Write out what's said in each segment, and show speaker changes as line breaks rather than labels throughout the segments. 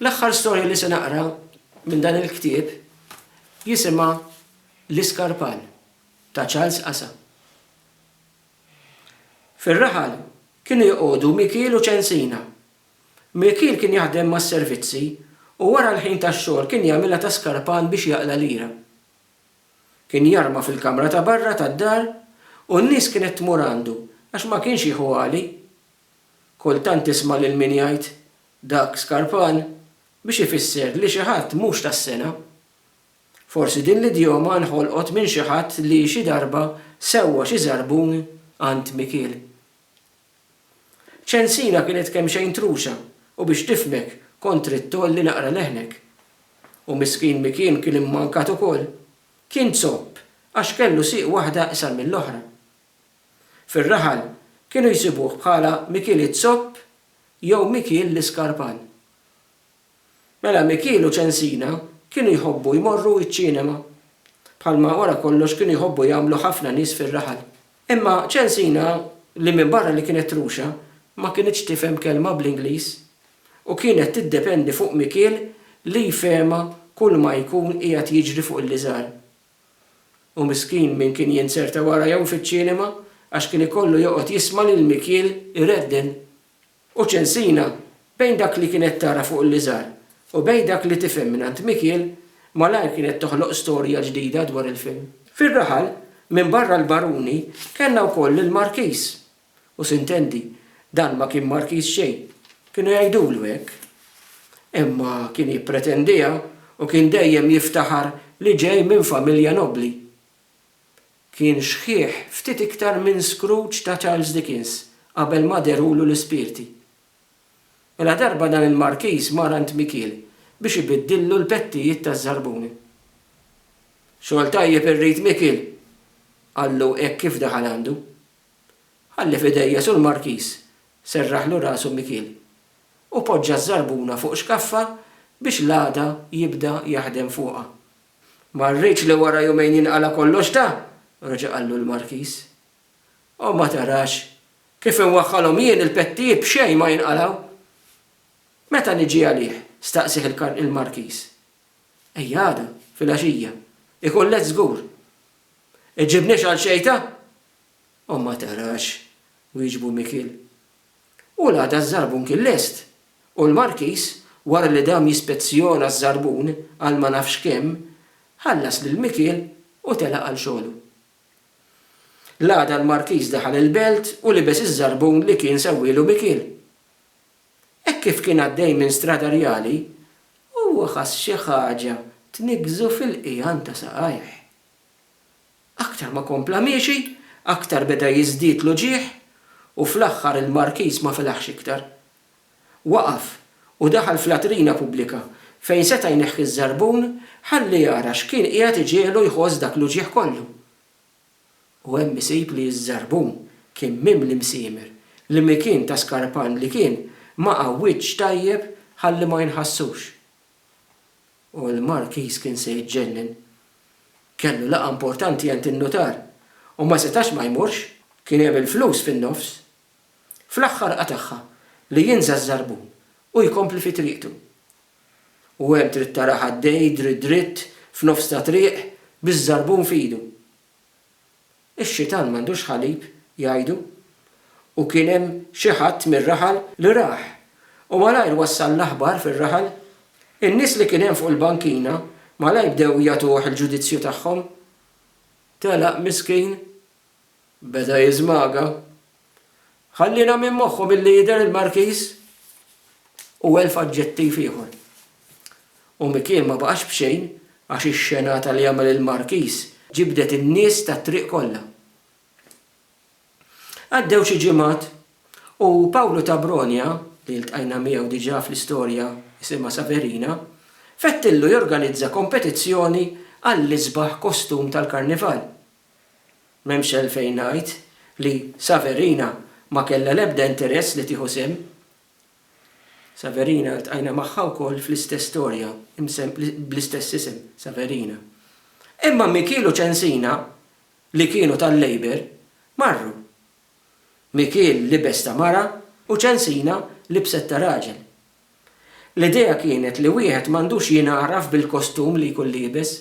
L-aħħar storja li se naqra minn dan il-ktieb jisimha L-Iskarpan ta' Charles Qasa. Fir-raħal kienu joqogħdu Mikiel u Ċensina. Mikiel kien jaħdem mas-servizzi u wara l-ħin tax-xogħol kien jagħmilha ta' skarpan biex jaqla' lira. Kien jarma fil-kamra ta' barra tad-dar u n-nies kienet tmur għandu għax ma kienx jieħu għali. Kultant tisma' lil min jgħid, Dak skarpan, biex ifisser li xi ħadd mhux tas-sengħa. Forsi din l-idjoma nħolqot minn xi ħadd li xi darba sewwa xi żarbun għand Mikiel. Ċensina kienet kemxejn trusa u biex tifhmek kont trid tgħolli naqra leħnek. U miskin Mikiel kien immankat ukoll. Kien zopp għax kellu sieq waħda iqsar mill-oħra. Fir-raħal kienu jsibuh bħala Mikiel iz-Zopp jew Mikiel l-Iskarpan. Mela Mikiel u Ċensina kienu jħobbu jmorru iċ-ċinema, bħalma wara kollox kienu jħobbu jagħmlu ħafna nies fir-raħal. Imma Ċensina, li minbarra li kienet truxa, ma kinitx tifhem kelma bl-Ingliż u kienet tiddependi fuq Mikiel li jfehemha kulma jkun qiegħed jiġri fuq il-liżar. U miskin min kien jinzerta wara jew fiċ-ċinema għax kien ikollu joqgħod jisma' lil Mikiel iredden. U Ċensina, bejn dak li kienet tara fuq l-iżgħar u bejn dak li tifhem mingħand Mikiel, malajr kienet toħloq storja ġdida dwar il-film. Fir-raħal, minbarra l-baruni, kellna wkoll lill-markiż, U sintendi, dan ma kien Markiż xejn. Kienu jgħidulu hekk. Imma kien jippretendiha u kien dejjem jiftaħar li ġej minn familja nobbli. Kien xħiħ ftit iktar minn Scrooge ta' Charles Dickens qabel ma dehrulu l-ispirti. U la darba dan il-Markiż mar għand Mikiel biex ibiddillu l-pettijiet taż-żarbuni. Xogħol tajjeb irrid Mikiel! qallu hekk kif daħal għandu. Ħalli f'idejja sur Markiż, serraħlu rasu Mikiel, u poġġa ż-żarbuna fuq xkaffa biex l-għada jibda jaħdem fuqha. Ma rridx li wara jumejn jinqala' kollox da! reġa' qallu l-Markiż. O ma tarax, kif inwaħħalhom jien il-pettijiet b'xejn ma jinqalgħu! Meta niġi għalih? staqsieh il-Markiż. Ejja għada, filgħaxija. Ikun lest żgur. Iġġibniex għal xejta? O ma tarax! wieġbu Mikiel. U l-għada ż-żarbun kien lest, u l-Markiż, wara li dam jispezzjona ż-żarbun għal ma nafx kemm, ħallas lil Mikiel u telaq għal xogħlu. L-għada l-Markiż daħal il-belt u libes iż-żarbun li kien sewwielu Mikiel. Hekk kif kien għaddej minn Strada Rjali, huwa ħass xi ħaġa tniggżu fil-qiegħan ta' saqajh. Aktar ma kompla miexi, aktar beda jiżdied l-uġigħ u fl-aħħar il-Markiż ma felaħx iktar. Waqaf u daħal f'latrina pubblika fejn seta' jneħħi ż-żarbun ħalli jara x'kien qiegħed iġiegħlu jħoss dak l-uġigħ kollu. U hemm isib li ż-żarbun kien mimli msiemer li mikien ta' skarpan li kien ma' għawwiġġ tajjeb ħalli ma jinħassux. U l-Markiż kien se jiġġennen. Kellu laqgħa importanti għand in-nutar u ma setax ma jmurx. Kien hemm il-flus fin-nofs. Fl-aħħar qatagħha li jinża' ż-żarbun u jkompli fi triqtu. U hemm trid tarah għaddej dritt dritt f'nofs ta' triq biż-żarbun f'idu. Ix-xitan m'għandux ħalib, jgħidu. U kien hemm xi ħadd mir-raħal li rah, u malajr wassal l-aħbar fir-raħal. In-nies li kien hemm fuq il-bankina malajr bdew jagħtuh il-ġudizzju tagħhom. Telaq miskin. Beda jiżmaga. Ħalliena minn moħħhom illi jidher il-Markiż u elf aġġettiv ieħor. U Mikien ma baqax b'xejn għax ix-xenata li għamel il-Markiż ġibdet in-nies tat-triq kollha. Għaddew xi ġimgħat u Pawlu ta' Bronja, li ltqajna miegħu diġà fl-istorja isimha Saverina, fettillu jorganizza kompetizzjoni għall-isbaħ kostum tal-Karnival. M'hemmx għalfejn ngħid li Saverina ma kellha l-ebda interess li tieħu sehem. Saverina ltqajna magħha wkoll fl-istess storja bl-istess isem, Saverina. Imma Mikiel u Ċensina, li kienu tal-Labour, marru. Mikiel libes ta' mara u Ċensina libset ta' raġel. L-idea kienet li wieħed m'għandux jingħaraf bil-kostum li jkun liebes.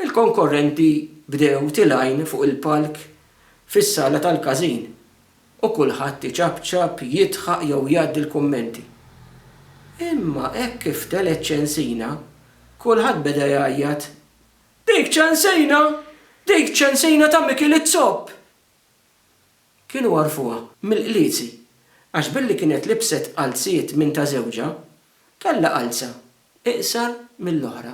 Il-konkorrenti bdew tilgħin fuq il-palk fis-sala tal-każin u kulħadd iċapċap, jidħaq jew jgħaddi l-kummenti. Imma hekk kif telgħet Ċensina, kulħadd beda jgħajjat, Dik Ċensina! Dik Ċensina ta' Mikiel iz-Zopp! Kienu għarfuha mill-qlizi għax billi kienet libset qalziet minn ta' żewġha, kellha qalza iqsar mill-oħra.